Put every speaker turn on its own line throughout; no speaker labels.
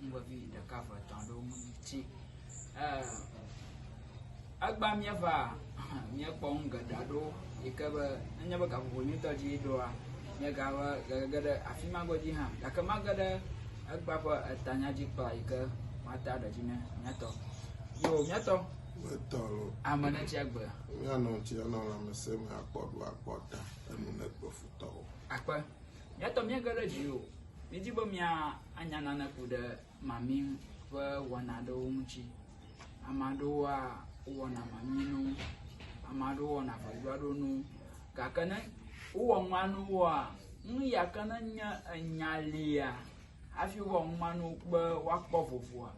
ŋgɔvi ɖeka ve etɔ̃ aɖewo mu tsi egba míeva míekpɔ nu geɖe aɖewo yi ke be enye be gaƒoƒo nyuitɔ dzi ɖoa míegava gege ɖe afi ma godzi hã gake mage ɖe egba ƒe etanya dzi kpla yi ke mata ɖe dzi ne míatɔ yo míatɔ Etɔ lo.
ame ne tsi agbe
Míanɔ tsi
anɔ lãmesẽ me akpɔ ɖo akpɔ ta enu ne kpe futɔwo. akpe
Eya ta míege ɖe dzi o. Míedi be míanya nane ku ɖe mami ƒe wɔna aɖewo ŋuti. Ame aɖewoa, wowɔna mami nu, ame aɖewo wɔna ʋedzoaɖonu. Gake ne wowɔ nua nu woa, nu ya ke ne nye enya lia hafi wowɔ nua nu be woakpɔ vovoa,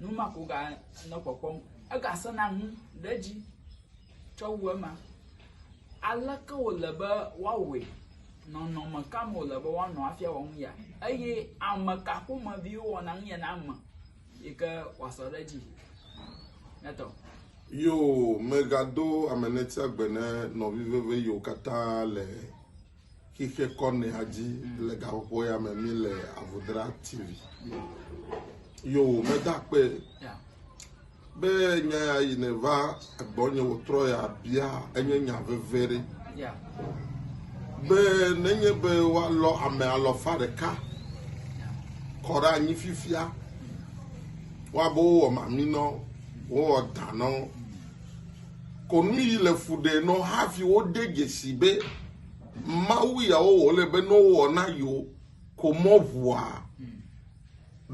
nu ma ko ganɔ kpɔkpɔm. Egasẽna ŋu ɖe edzi. tsɔ wu ema. Aleke wòle be woawɔe? Nɔnɔme ka me wòle be woanɔ hafi awɔ nu ya? Eye ame ka ƒomeviwo wɔna nu ya na ame yi ke wòasɔ ɖe edzi? Netɔ. Yo,
megado amenetia gbe ne nɔvi veve yiwo katã le Xexe kɔ ne adzi le gaƒoƒo ya me mi le Avodra TV. Yo meda kpe be nya ya yi ne va egbɔ nye wotrɔ ya bia enye nya veve ɖe. Be nenye be woalɔ ame alɔfa ɖeka kɔ ɖe anyi fifia woabe wowɔ maminɔ wowɔ danɔ. Kɔnu yi le fu ɖe nɔ hafi wode dzesi be Mawu ya wowɔ le be ne wowɔ na yewo ko mɔ ŋua?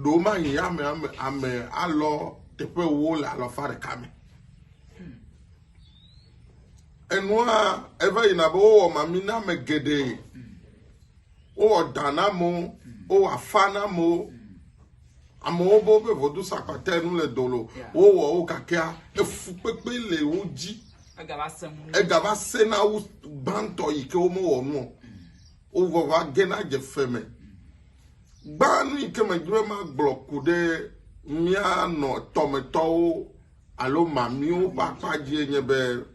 Ɖo mahi ame ame ame alɔ teƒe wo le alɔfa ɖeka me. Enua eva yina be wowɔ mami na ame geɖe. wowɔ da na amewo wowɔ afa na amewo amewo bo be vodu sakpata nu le dolo wowɔ wo gakea efu kpekpe le wo dzi egava se na wo gbãtɔ yi ke womewɔ nuɔ wovɔva ge na dze fe me gbã nu yi ke medzi be magblɔ ku ɖe míanɔ tɔmetɔwo alo mamiwo ƒe akpa dzie nye be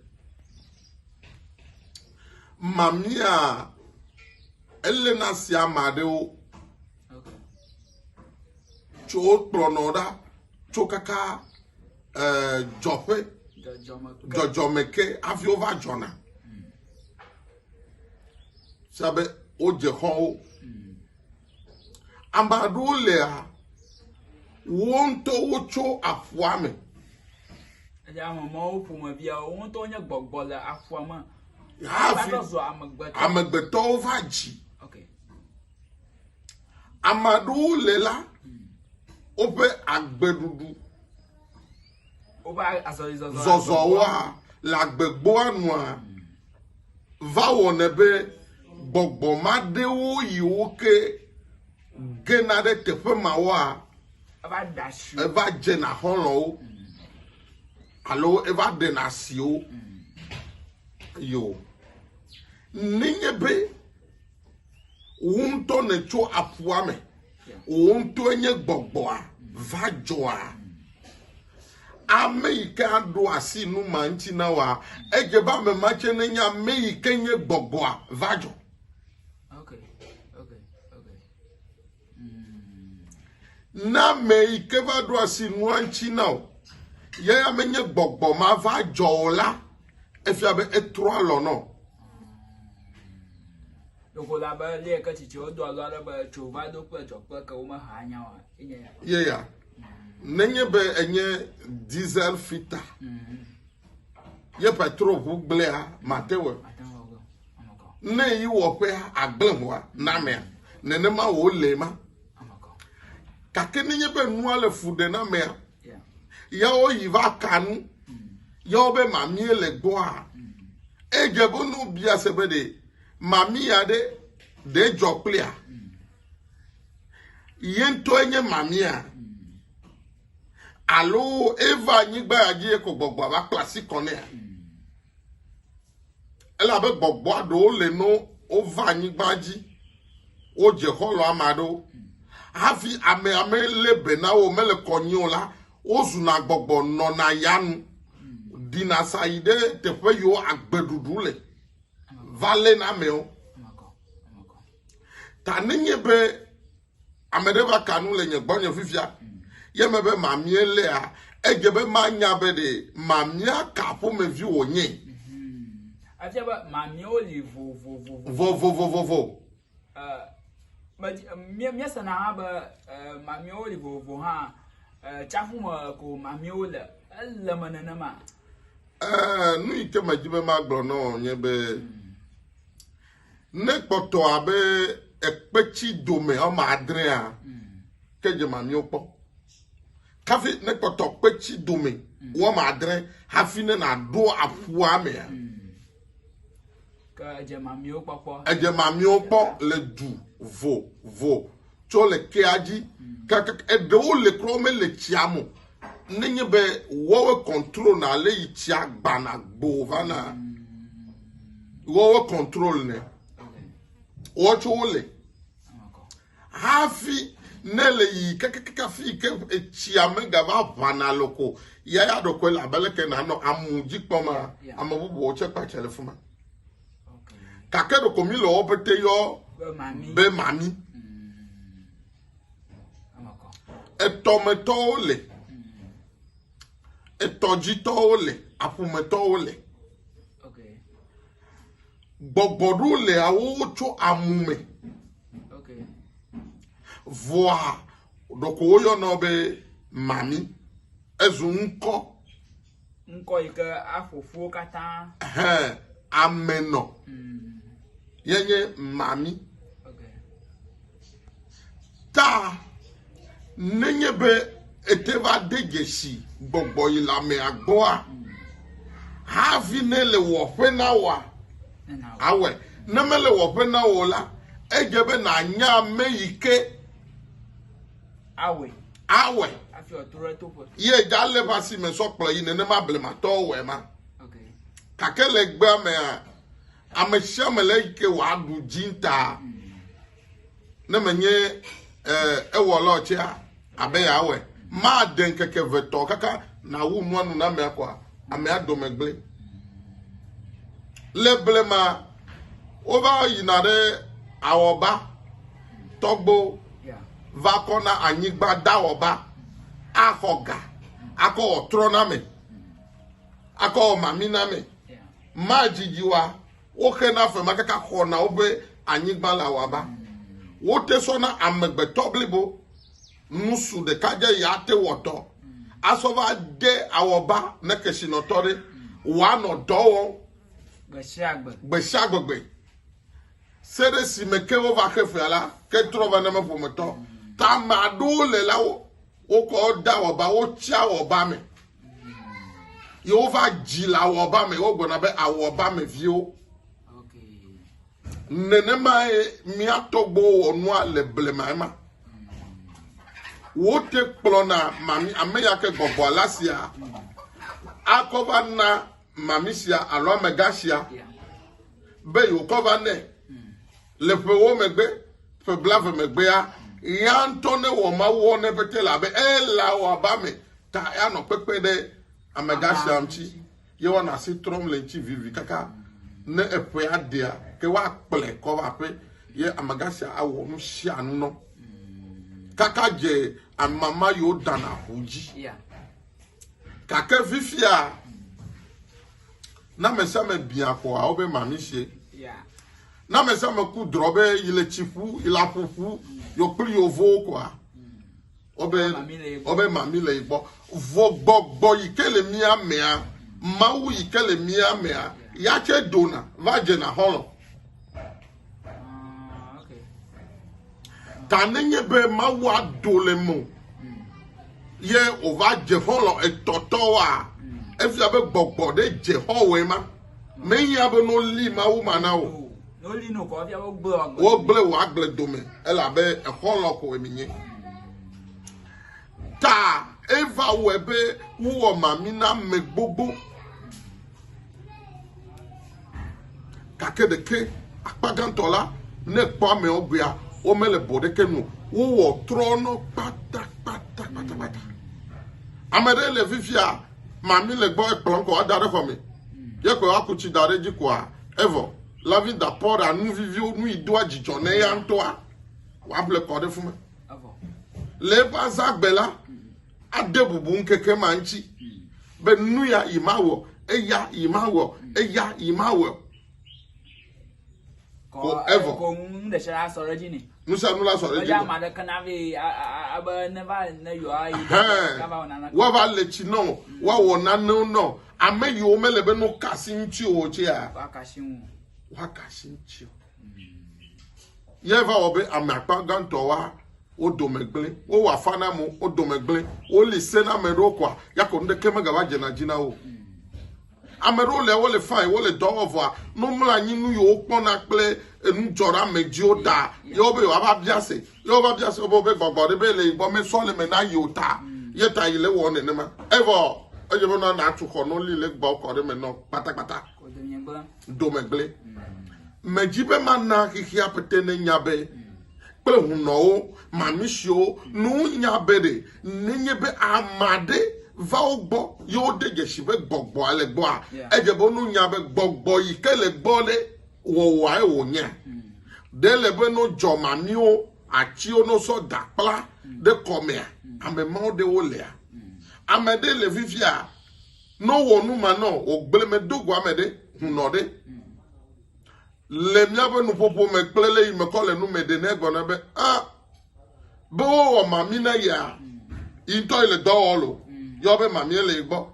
Mamia ele na si ame aɖewo tso wokplɔnɔ ɖa tso kaka eh, dzɔƒe dzɔdzɔme ke hafi wova dzɔna se be wodze xɔwo Ame aɖewo lea wo ŋutɔwo tso aƒua me.
Eye ame mawo ƒomevia wo ŋutɔ nye gbɔgbɔ le aƒua me. Hafi
amegbetɔwo va dzi. Ame aɖewo le la, hmm. woƒe agbeɖuɖu
zɔzɔwoa
le agbegboa nua va wɔnɛ be gbɔgbɔ ma ɖewo yi wo ke gena ɖe teƒe mawoa
eva dzena
xɔlɔwo alo eva ɖena asiwo yo nenye be Wò ŋutɔ nètso aƒua me. Wò ŋutɔe nye gbɔgbɔa va dzɔa. Ame yi ke aɖo asi nu ma ŋuti na wòa, edze be ame ma tsɛ nenye ame yi ke nye gbɔgbɔa va dzɔ. Na ame yi ke va ɖo asi nua ŋuti na o. Ye ya menye gbɔgbɔ ma va dzɔ o la, efia be etrɔ alɔ nɔ.
Ɖeko la be lé ke tsitsi wodo alɔ ale be tso va do kple dzɔ kple ke wome ha nya wa. Ye ya.
Nenye be enye diesel fita. Mm -hmm. ye petro ʋu gblẽa matewe ne yi wɔƒe agblẽ ʋua namea nenema wò le ma gake nenye be nua le fu ɖe namea yawo yi va kanu yawo be mamie le gbɔa edze be nu bia se be ɖe mamia ɖe ɖe dzɔ kplia ye ŋutɔ enye mamia. Mm. Alo eva anyigba ya dzi eko gbɔgbɔa va kpla asi kɔ nɛa? Elabe gbɔgbɔa ɖewo le no wova anyigba dzi, wodze xɔlɔ ame aɖewo. Hafi ame ame lé be na wo mele kɔnyi o la, wozuna gbɔgbɔ nɔna ya nu, ɖina sa yi ɖe teƒe yiwo agbeɖuɖu le va léna amewo. Ta nenye be Ame ɖe va ka nu le nye gbɔnye fifia. Ye me be mamie lea, edze be manya be ɖe mamia ka ƒomevi wònye. Mhm.
Efia be mamiewo li vovovovo.
Vovovovovo.
Eh, míesena hã be eh, mamiewo li vovovo hã eh, tsaƒu me ko mamiewo le ele me nenema
nu yi ke medzi be magblɔ nɔ nye be Ne kpɔtɔ abe ekpetsi dome ɔma adrea, ke dze mamio kpɔ. Kafi ne kpɔtɔ kpetsi dome wɔma adre hafi ne naɖo aƒua mea. Ke edze mamio
kpɔkpɔ. Edze mamio kpɔ
le du vo vo tsɔ le kea dzi kaka eɖewo le kura womele tsia me nenye be wɔwe control na le yi tsia gbana gbo vana wɔwe control ne wɔtso wo le hafi ne le yi kakakaka fi ke etsia me gava ʋana loko ya ya ɖokɔe le abeleke nanɔ amu dzi kpɔma ame bubuwo tse kpatsa le fuma. gake ɖeko mi le wɔ pete yɔ be mami etɔmetɔwo le etɔdzitɔwo le aƒumetɔwo le gbɔgbɔ ɖo le awowo tso amu me vɔa ɖeko woyɔnɔ be mami ezu ŋkɔ. Okay. Ŋkɔ
yi ke aƒo ƒuwo katã. Hẽ,
Amenɔ. Mm. Ye nye mami. Okay. Ta nenye be ete va de dzesi gbɔgbɔ yi la mea gbɔa, mm. hafi ne le wɔƒe na wɔa, awɔe. Ne mele wɔƒe na wɔ la, edze be nànya ame yi ke
Awɔe. Awɔe. Afi wòatrɔ
ɖe toƒe. Ye dalé ƒe asi me sɔ kplɔ yi nenema blematɔwo wɔe ma. Okay. Gake le gbea mea, ame sia ame le yi ke wòaɖu dzinta. Mm. Ne menye eh, ewɔla tsea, abe yeawɔe. Made ŋkeke vetɔ kaka nàwu nua nu na amea kɔa, amea dome gblẽ. Le blema, wova yina ɖe awɔba tɔgbo. Yeah. va kɔ na anyigba dawɔba axɔ ga akɔ wɔ trɔname akɔ wɔ maminame madzidziwa woxe na fema kaka xɔna woƒe anyigba le awaba wote sɔ na amegbetɔ blibo nusu ɖeka dze ya te wɔtɔ asɔ va de awɔba ne kesinɔtɔ ɖe wòanɔ dɔ wɔm gbesiagbegbe Se ɖe si me ke wova xe fea la, ke trɔ va name ƒometɔ. Ta ame aɖewo le la wo wokɔ da wɔba, wotsia wɔba me. Ye wova dzi le awɔba me, wogblɔna be awɔba me viwo. Nenemae mía tɔgbuiwo wɔ nua le blema ema. Wote kplɔna mami ame ya ke gbɔgbɔ la sia akɔ va na mami sia alo amegã sia be yeokɔ va nɛ le ƒewo megbe ƒe blave megbea ya ŋutɔ ne wɔ mawu wɔ ne pete la be ela wɔ aba me ta anɔ kpekpe ɖe amegã sia ŋuti ye wɔna asi trɔm le ŋuti vivi kaka ne eƒea ɖea ke woakplɛ kɔ va ƒe ye amegã sia awɔ nu sia nu nɔ kaka dze amama yewo dana ʋu dzi. Yeah. Gake fifia, ne ame sia ame bia kɔ awo be mamisie. Ne ame sia ame ku drɔ be yi le tsi ƒu, yi le aƒu ƒu, yɔ kpli yovowo kɔa, wobe wobe mami le yi gbɔ. Vɔ gbɔgbɔ yi ke le mía mea, Mawu yi ke le mía mea, ya tse dona va dzena xɔlɔ. ta nenye be mawu ado le mo ye wòva dze xɔlɔ etɔtɔwoa efia be gbɔgbɔ ɖe dze xɔwɔe ma meya be noli mawu ma na o wogblẽ wò agble dome elabe exɔlɔ koe menye ta eva wɔe be wowɔ mami na ame gbogbo. Gake ɖeke akpa gãtɔ la, ne kpɔ amewo gbea, womele bɔ ɖeke nu. Wowɔ trɔnɔ kpatakpata kpatakpata. Ame ɖe le fifia, mami le gbɔ ekplɔ kɔ ada ɖe xɔ me. Ye kɔ aku tsi da ɖe dzi koa, evɔ. Lavi da pɔ ɖa nu viviwo, nu yi doa dzidzɔ ne ya ŋutɔa, wòable kɔ ɖe fuma. Le eƒe azãgbe la, ade bubu ŋkeke ma ŋuti be nu ya yi mawɔ, eya yi mawɔ, eya yi mawɔ. Forever.
Nusanu la sɔ ɖe dzi nɛ.
Woava le tsi nɔ, woawɔ nanewo nɔ. Ame yiwo mele be no kasi ŋuti o tsia. Woakasi ŋuti o. Ye va wɔ be ame akpa gãtɔ wa wo dome gblẽ, wowɔ afa na amewo wo dome gblẽ, woli se na ame ɖewo koa, ya ko nuɖeke megava dze na dzi na wo. Ame ɖewo le wole fain, wole dɔ wɔ vɔa, ne womlɔ anyi nu yiwo kpɔna kple enudzɔɖeamedziwo ta ye wobe yewoava bia se, ye wova bia se wobe gbɔgbɔ ɖe be le yi gbɔ mesɔleme na yi o ta, ye ta yi le wɔ nenema. Evɔ edze be nɔ natu xɔ nɔ li le gbɔ kɔ ɖe me nɔ kpatakpata. domegble. Medzi be mana xexea pete nenya be kple hunɔwo mamisiwo nu nya be ɖe nenye be ame aɖe va wo gbɔ ye wode dzesi be gbɔgbɔa le gbɔa edze be nu nya be gbɔgbɔ yi ke le gbɔ ɖe wɔwɔae wònye ɖe le be no dzɔ mamiwo atiwo no sɔ da kpla ɖe kɔmea ame mawo ɖewo lea ame ɖe le fifia No wɔ nu ma nɔ wò gble me do gua me ɖe, hunɔ ɖe. Le míaƒe nuƒoƒo me kple le yi me kɔ le nu me ɖe ne gɔna be a be wo wɔ mami na ya yi ŋutɔ yi le dɔ wɔ lo yɔ be mami le yi gbɔ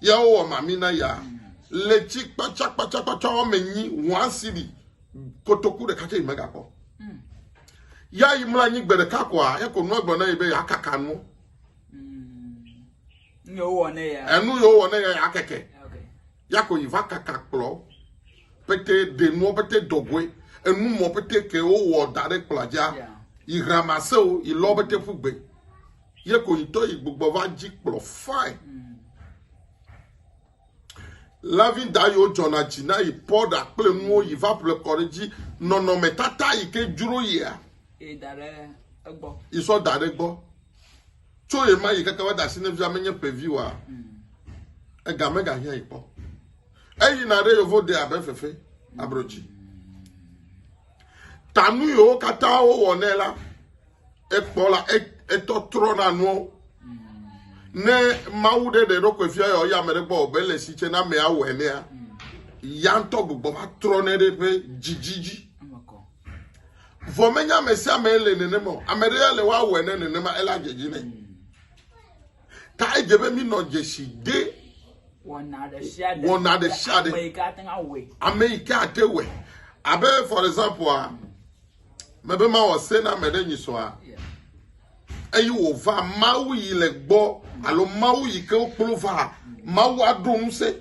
ya wo wɔ mami na ya le tsi kpatsa kpatsa kpatsa wɔ me nyi wɔn si bi kotoku ɖeka tse yi me gakɔ ya yi mla nyi gbe ɖeka kɔa ya ko nua gblɔ na yi be ya kaka nu
enu yɛ wowɔ ne ya enu yɛ wowɔ ne ya ya
kɛkɛ yako yi va kaka kplɔ pete ɖenuɔ pete dɔgoe enu mɔ pete ke wowɔ da ɖe kplɔ dza yi hramase o yi lɔ pete ƒu gbe yɛ ko yi tɔ yi gbugbɔ va dzi kplɔ fine. Mm. Lavi Dayo dzɔna dzi na yi pɔ ɖa kple nuwo yi va ƒle kɔ ɖe dzi nɔnɔme tata yi ke dzro yia. Yi da ɖe
egbɔ. Yi sɔ da ɖe gbɔ.
Tso yi ma yi keke va da si ne via menye ƒevi wa. Hmm. Ega mega hiã yi kpɔ. Eyi na ɖe yovo de abe fefe abro dzi. Ta nu yiwo katã wowɔ nɛ la, ekpɔ la, etɔ trɔ na nuwo. Ne Mawu ɖe ɖe ɖokui fia yɔ ya ame ɖe gbɔ be le si tse na amea wɔe nea, ya ŋutɔ gbugbɔ va trɔ ne ɖe ƒe dzidzi dzi. Vɔ menye ame sia ame le nenema o. Ame ɖe ya le woawɔe ne nenema ela dzedzi nɛ. Ta edze be mínɔ dzesi de wɔna
ɖe sia ɖe wɔna ɖe sia ɖe ame yi ke ate ŋu awɔe.
Ame yi ke ate wɔe. Abe for example a, mebe mawɔ se na ame ɖe nyisɔa. Eye wòva Mawu yi le gbɔ alo Mawu yi ke wokplɔ va Mawu aɖo ŋusẽ.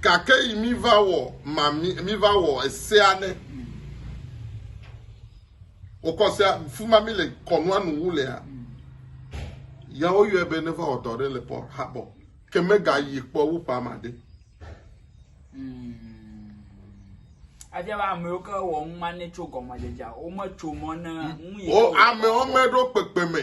Gake yi mi va wɔ ma mi mi va wɔ esea ne. Wokɔ sea fuma mi le kɔnua nu wu lea. Ya woyɔe be ne va wɔ dɔ ɖe le pɔ habɔ. Ke mega yi kpɔ wu pa ma de.
Adzɛ be amewo ke wɔ nu ma ne tso gɔmedzedzea. Wome tso mɔ ne nu yi. O amewo me
ɖo kpekpe me.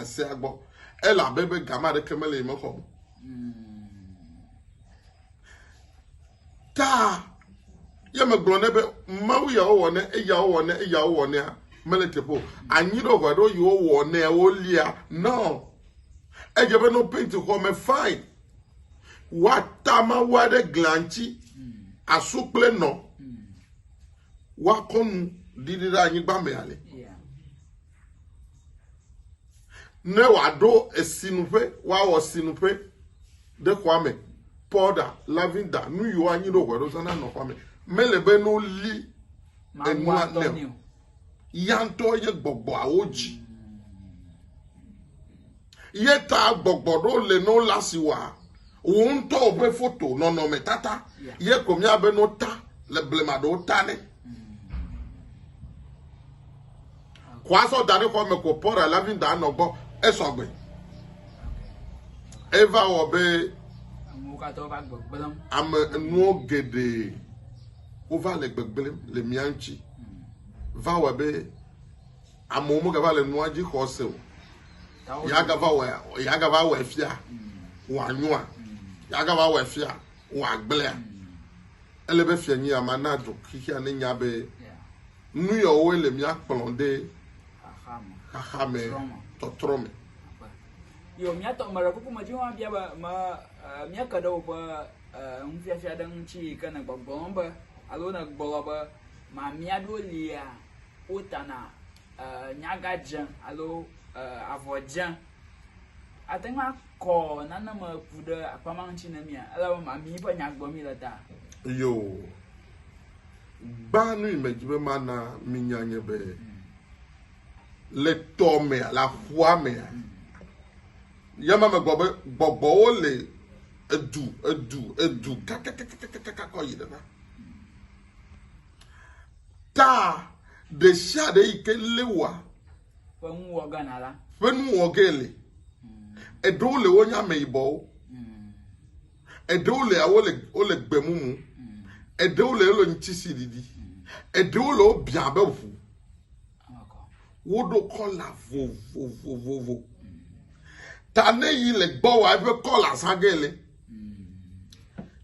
Esea gbɔ. Ele abe be gama ɖeke mele yi mexɔ me. Ta ye megblɔ ne be mawu yawo wɔ ne eyawo wɔ ne eyawo wɔ nea mele teƒe o. Anyi ɖo ʋe ɖo yiwo wɔ ne wolia nɔ. Edze be no painti xɔ me fine. Woata mawu aɖe glia ŋuti asu kple nɔ. Woakɔ nu ɖiɖi ɖe anyigba me ale. Ne wòaɖo esinuƒe, woawɔ sinuƒe ɖe xɔa me. Pɔɖa, lavinda, nu yiwo anyi ɖo hɔe ɖo zana nɔ xɔa me. Mele be ne woli enua nɛ o. Ya ŋutɔ ye gbɔgbɔawo dzi. Ye ta gbɔgbɔ ɖo le no la si wa wò ŋutɔ ƒe foto nɔnɔme tata. Ye ko miabe no ta le blema ɖewo ta ne. Ko azɔ da ɖe xɔ me ko pɔra la vi da nɔ gbɔ esɔgbe. Eva wɔ be ame nuwo geɖe wova le gbegblem le mia ŋuti. Va wɔ be Amewo megava le nua dzi xɔ se o. Yeagava wɔ yeagava wɔ efia wòanyɔa yeagava wɔ efia wòagblẽa. Ele be fianyia ma na du xixia ne nya be nu yawoe le mía kplɔm ɖe xaxa me tɔtrɔ me.
Yo, mía tɔ me ɖe kuku me dziwo abia be me mía ke ɖe woƒe nufiafia ɖe ŋuti ke ne gbɔgblɔm be alo ne gbɔgblɔ be mamia ɖo lia. wotana nyaga dze alo avɔ dze. Ate ŋu akɔ nane me ku ɖe akpa ma ŋuti ne mia, ele be mami ƒe nya gblɔm mi le ta. Yo.
Gbã nu yi medzi be mana minya nye be le tɔ mea, le aƒua mea, ya ma megbɔ be gbɔgbɔwo le edu, edu, edu kakakakakaka kɔ yi ɖe na. Ta ɖe sia ɖe yi ke Lewa ƒe nuwɔ
gana la ƒe nuwɔ ge
le. Eɖewo le wonye ameyibɔwo. Eɖewo le wole wole gbemumu. Eɖewo le wole ŋutisi ɖiɖi. Eɖewo le wobia be ʋu. woɖo kɔla vovovovovo ta ne yi le gbɔ wa eƒe kɔla zã ge le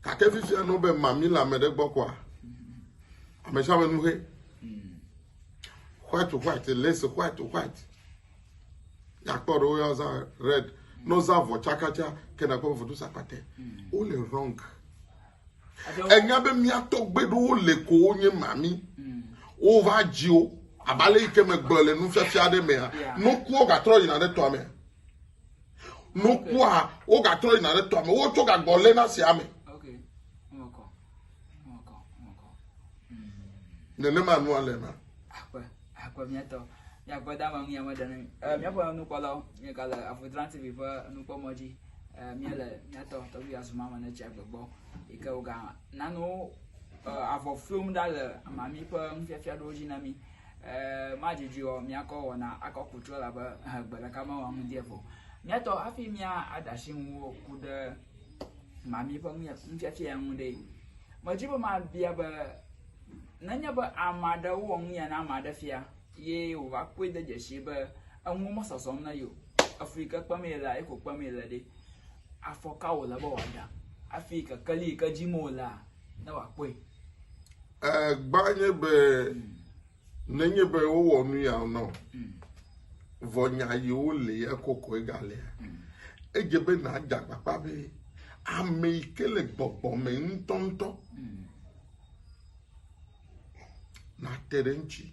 gake fifia nɔ be mami le ame ɖe gbɔ kɔa ame sia ame nu he white white lace white white yakpɔ ɖe woyɔ zã red nɔ zã vɔ tsakatsa kena kɔ vodo sakpate wole wrong. Mm. Enya be mía tɔgbeɖowo le ko wonye mami. Mm. Wova dzi wo. Abe ale yi ke megblɔ le nufiafia aɖe mea, nokua gatrɔ yina ɖe tɔa me. Nokua wogatrɔ yina ɖe tɔa me. Wotsɔ gagbɔ lé na sia me. Nenema nua le ma. akɔ
miatɔ miakpɔ da ma mia meɖe ne mi eh, miaƒe nukpɔlawo miegale afudran tv ƒe nukpɔmɔ dzi eh, miele miatɔ tɔgbi azuma me ne tsi agbe gbɔ yi ke woga nanu eh, avɔ fiom ɖa le mami ƒe nufiafia ɖewo dzi na mi eh, madzidzi o miakɔ wɔna akɔ kutrɔ labe eh, gbe ɖeka mewɔ nu die vo miatɔ hafi mia adasi ŋuwo ku ɖe mami ƒe nufiafia ŋu ɖe medzi be mabia be Nenye be ame aɖe wɔ nu ya na ame aɖe fia ye wòva kpɔe de dzesi be enuwo mesɔsɔm na ye o, efli yi ke kpem yelea, ye ko kpem yele ɖe, afɔ ka wòle be wòada hafi kekeli yi ke dzim wolea, ne wòakpɔe? Egbã
nye be nenye be wowɔ nu ya na wò, vɔ nya yi wole ya kokoe galea, edze be nàada akpakpa be ame yi ke le gbɔgbɔ me ŋutɔŋutɔ nàte ɖe eŋuti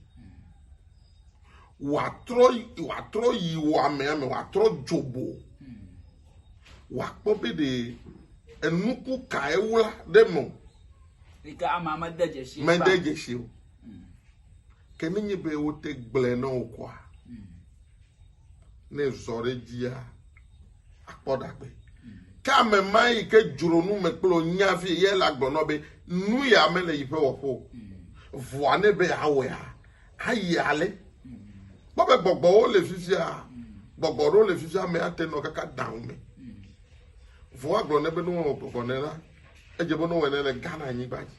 wòatrɔ wòatrɔ yi wò amea me wòatrɔ dzobo wòakpɔ be ɖe enuku kae wla ɖe eme o. yi ke
amea mede dzesi kpa. mede dzesi o
ke nenye be wote gblẽ na wò koa. ne zɔ ɖe dzia akpɔ ɖagbe ke ame ma yi ke dzro nu me kple nya vie ye la gblɔnɔ be nu ya mele yi ƒe wɔƒo vɔa ne be awɔa ayi ale kpɔ be gbɔgbɔwo le fifia gbɔgbɔ ɖewo le fifia ame ate nɔ kaka daŋ me vɔa gblɔ ne be ne wɔwɔ gbɔgbɔ ne la edze be ne wɔwɔ ne le ghana anyigba dzi.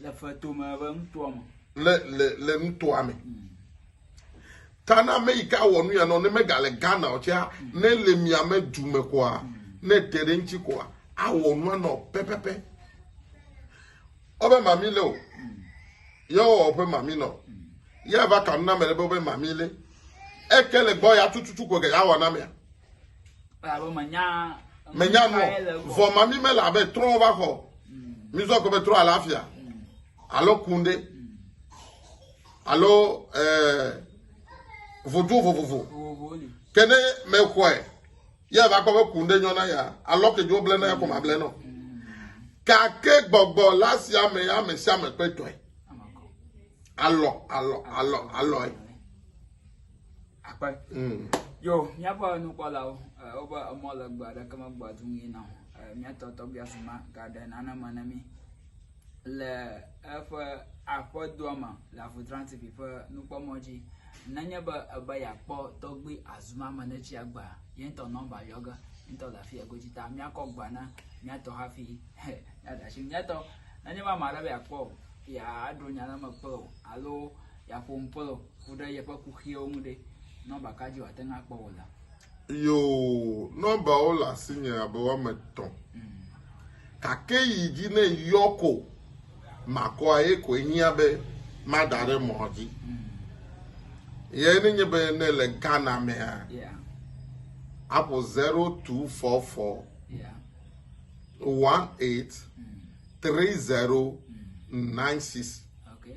Le feto me be nutoa me. Le le le
nutoa me. Mm. Tana ame yi ke awɔ nu ya nɔ ne megale Ghana o tsea mm. ne le miame du me koa mm. ne te ɖe ŋuti koa awɔ nua nɔ pɛpɛpɛ. Ɔbɛ mami le o. Mm. Yewɔ ɔbɛ mami nɔ. Yɛ va kanu na mɛ ɖe be ɔbɛ mami le. Eke le gbɔ ya tututu ko ge ya wɔ na mea.
menya nɔ
vɔ ma mi mele abe trɔ va xɔ mi zɔ ko be trɔ alafia alo kunde alo eh, vodu vovovo ke ne me xɔe ye va kpɔ be kunde nyɔ na ya alɔ ke dzo ble na ya ko ma ble nɔ gake gbɔgbɔ la sia me ya me sia me kpetɔe alɔ alɔ alɔ alɔe.
akpe mm. yo míaƒe nukpɔlawo eh, wobe emɔ le gbe aɖeke megbɔ atu ŋui na o eh, míatɔ tɔgbia si ma gaɖe nane me na mí le eƒe aƒedoa me le avutra tv ƒe nukpɔmɔ dzi nenye be ebe yeakpɔ tɔgbi azuma me ne tsia gba ye ŋutɔ nɔmba yɔ ge ŋutɔ le afi godzi ta míakɔ gba na míatɔ hafi míaɖe asi míatɔ nenye be ame aɖe be yeakpɔ o yeaɖo nya ɖe me kpe o alo ya ƒo ŋu Pɔlu ku ɖe yeƒe kuxiwo ŋu ɖe, nɔmba ka dzi wòate ŋu akpɔ wò la? Yoo,
nɔmbawo le asinye abe woame etɔ̃. Gake yi dzi ne yɔ ko makɔ eye koe hiã be mada ɖe mɔ dzi. Ye ne nye be ne le Ghana mea, Yeah, aƒo 0244 yeah. 18 30 96. Okay.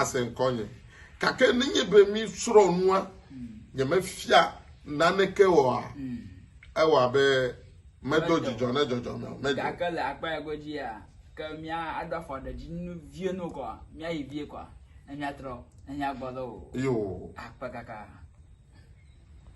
ase ŋkɔnye. Gake nenye be mi srɔ nua nye me fia naneke wɔa, hmm. ewɔ abe medo dzidzɔ ne dzɔdzɔ me o. Gake le akpa ya godzi
ya, ke mia aɖo afɔ ɖe dzi nu vie nu kɔa, mia yi vie kɔa, ne mia trɔ, ne mia
gbɔ
lɔ o. Yoo. Akpa kaka.